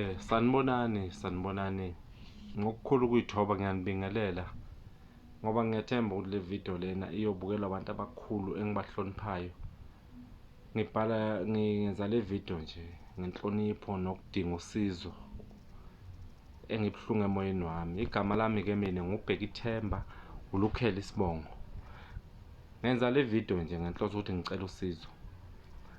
Eh sanibonani sanibonani ngokukhulu ukuyithoba ngiyanibingelela ngoba ngiyathemba ukuthi le video lena iyobukelwa abantu abakhulu engibahloniphayo ngibhala ngenza le video nje ngenhlonipho nokudinga usizo engibuhlungu emoyeni wami igama lami ke mina ngubheka ithemba ulukhela isibongo ngenza le video nje ngenhloso ukuthi ngicela usizo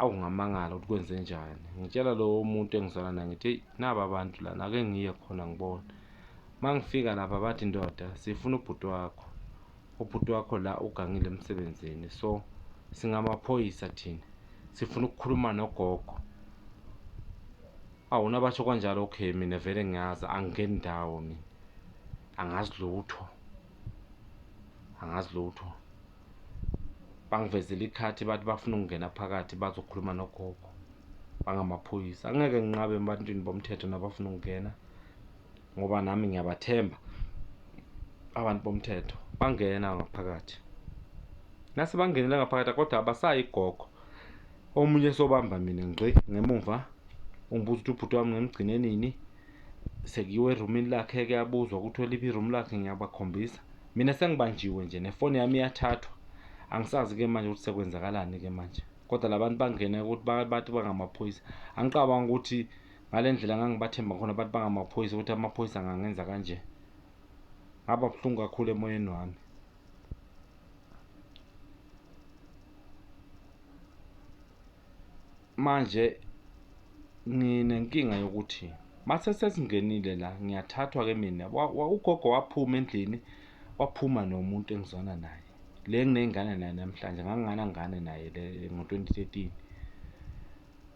Awu ngamangala ukuthi kwenze njani. Ngitshela lowo muntu engizwana naye ngithi eyi naba abantu lana ake ngiye khona ngibona. Uma ngifika lapha bathi ndoda sifuna ubhuti wakho. Ubhuti wakho la ugangile emsebenzini so singamaphoyisa thina sifuna ukukhuluma nogogo. Awu nabasho kanjalo okay mina vele ngiyazi angingeni ndawo mina. Angazi lutho. Angazi lutho. bangivezile ikhathi bathi bafuna ukungena phakathi bazokhuluma nogogo bangamaphoyisa angeke nginqabe ebantwini bomthetho nabafuna ukungena ngoba nami ngiyabathemba abantu bomthetho bangena ngaphakathi nase bangenela ngaphakathi kodwa abasayi gogo omunye sobamba mina ngci ngemumva ungibuza ukuthi ubhuti wami ngimgcine nini sekuyiwe erumini lakhe kuyabuzwa ukuthi oliphi iroom lakhe ngiyabakhombisa Mina sengibanjiwe nje nefoni yami iyathathwa. Angisazi ke manje ukuthi sekwenzakalani ke manje. Kodwa labantu bangena ukuthi bathi bangamaphoyisa. Angiqabanga ukuthi ngalendlela ngangibathemba khona bathi bangamaphoyisa ukuthi amaphoyisa angangenza kanje. Ngaba buhlungu kakhulu emoyeni wami. Manje nginenkinga yokuthi mase sesingenile la ngiyathathwa ke mina ugogo waphuma endlini waphuma nomuntu engizwana naye le nginey'ngane naye namhlanje nganginganangane naye le ngo-2013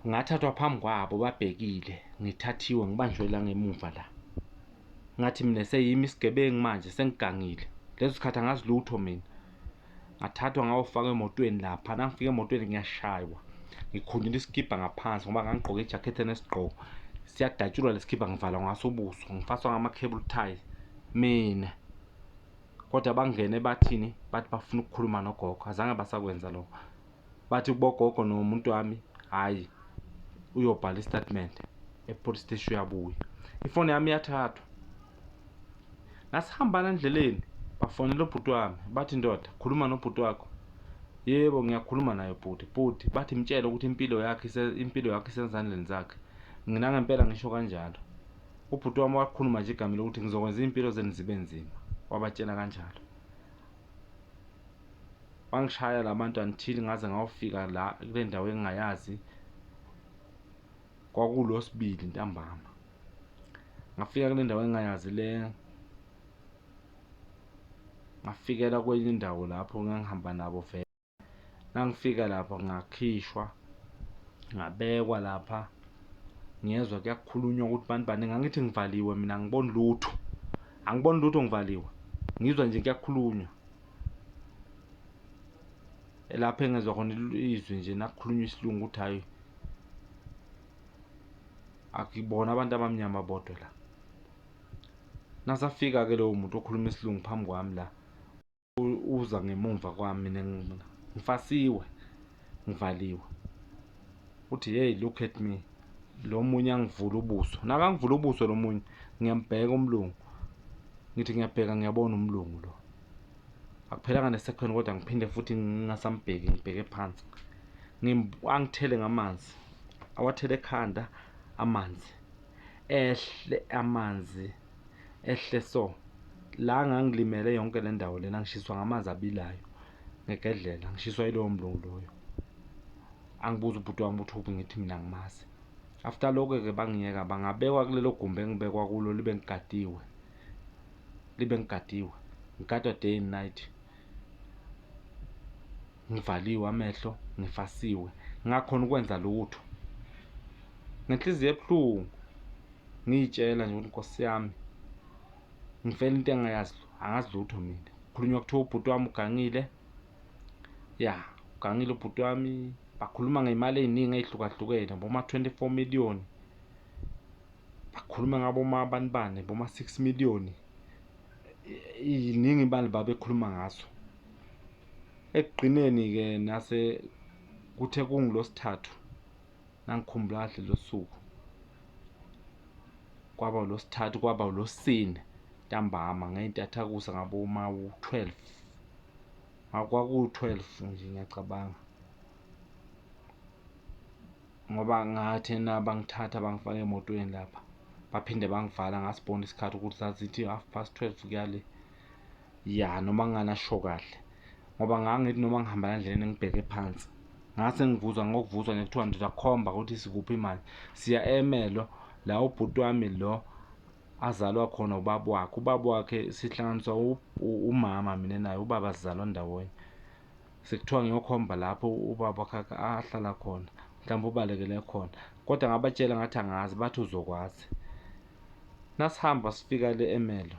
ngathathwa phambi kwabo babhekile ngithathiwe ngibanjwe la ngemuva la ngathi mina seyimi isigebengu manje sengigangile leso sikhathi angazi lutho mina ngathathwa ngawofaka emotweni lapha nangifika emotweni ngiyashaywa ngikhunyula isikibha ngaphansi ngoba ngangigqoke ijakhethi enesigqoko siyadatshulwa lesikibha ngivala ngaso ubuso ngifaswa ngama-cable tie mina kodwa bangene bathini bathi bafuna ukukhuluma nogogo azange basakwenza lokho bathi bogogo nomuntu wami hhayi uyobhala isitatimende epolice steshi uyabuya ifoni yami yathathwa ngasihambana endleleni bafonela ubhuti wami bathi ndoda khuluma nobhuti wakho yebo ngiyakhuluma naye bhuti bhuti bathi mtshele ukuthi impilo yakhe impilo yakhe isezandleni zakhe ngina ngempela ngisho kanjalo ubhuti wami wakhuluma nje igama lokuthi ngizokwenza impilo zenu zibe nzima wabatshela kanjalo wangishaya labantu until ngaze ngawufika la kule ndawo engingayazi kwakulosibili ntambama ngafika kule ndawo engingayazi le ngafikela kwenye indawo lapho ngangihamba nabo vele nangifika lapha ngakhishwa ngabekwa lapha ngiyezwa kuyakhulunywa ukuthi bantu bani ngangithi ngivaliwe mina ngiboni lutho angiboni lutho ngivaliwe ngizwa nje kuyakhulunywa lapho engezwa khona izwi nje nakukhulunywa isilungu ukuthi hhayi akuyibona abantu abamnyama bodwa la nasafika ke lowo muntu okhuluma isilungu phambi kwami la uza ngemumva kwami mina ngifasiwe ngivaliwe uthi hey look at me lo munye angivula ubuso nakangivula ubuso lo munye ngiyambheka umlungu ngithi ngiyabheka ngiyabona umlungu lo akuphelanga nesekhweni kodwa ngiphinde futhi ngingasambheki ngibheke phansi angithele ngamanzi awathele ekhanda amanzi ehle amanzi ehle so la ngangilimele yonke le ndawo lena ngishiswa ngamanzi abilayo ngegedlela ngishiswa yilowo mlungu loyo angibuza ubhuti wami ukuthi uphi ngithi mina ngimazi after lokho-ke bangiyeka bangabekwa kulelo gumbi engibekwa kulo libe ngigadiwe ngibe ngigadiwe ngigadwa day and night ngivaliwe amehlo ngifasiwe ngakhona ukwenza lutho ngenhliziyo ebuhlungu ngiyitshela nje ukuthi nkosi yami ngifela into engayazi angazi lutho mina khulunywa kuthiwa ubhuti wami ugangile ya ugangile ubhuti wami bakhuluma ngey'mali ey'ningi ey'hlukahlukene boma-twenty-four million bakhuluma ngabo mabanibane boma 6 million iningi ibali babekhuluma ngaso ekugqineni ke nase kuthe kungilosithathu nangikhumbula kahle losuku kwaba ulosithathu kwaba ulosine ntambama ngeyintathakusa ngabo uma u12 akwaku12 nje ngiyacabanga ngoba ngathe na bangithatha bangifaka emotweni lapha baphinde bangivala ngasibona isikhathi ukuthi zazithi half past 12 kuyale ya noma nganasho kahle ngoba ngangithi noma ngihamba endleleni ngibheke phansi ngase ngivuzwa ngokuvuzwa nje kuthiwa ndizakhomba ukuthi sikuphi manje siya emelo la ubhuti wami lo azalwa khona ubaba wakhe ubaba wakhe sihlanganiswa umama mina naye ubaba sizalwa ndawonye Sekuthiwa ngiyokhomba lapho ubaba wakhakhe ahlala khona, mhlawumbe ubalekele khona. Kodwa ngabatshela ngathi angazi, bathi uzokwazi. Nasihamba sifika le eMelo.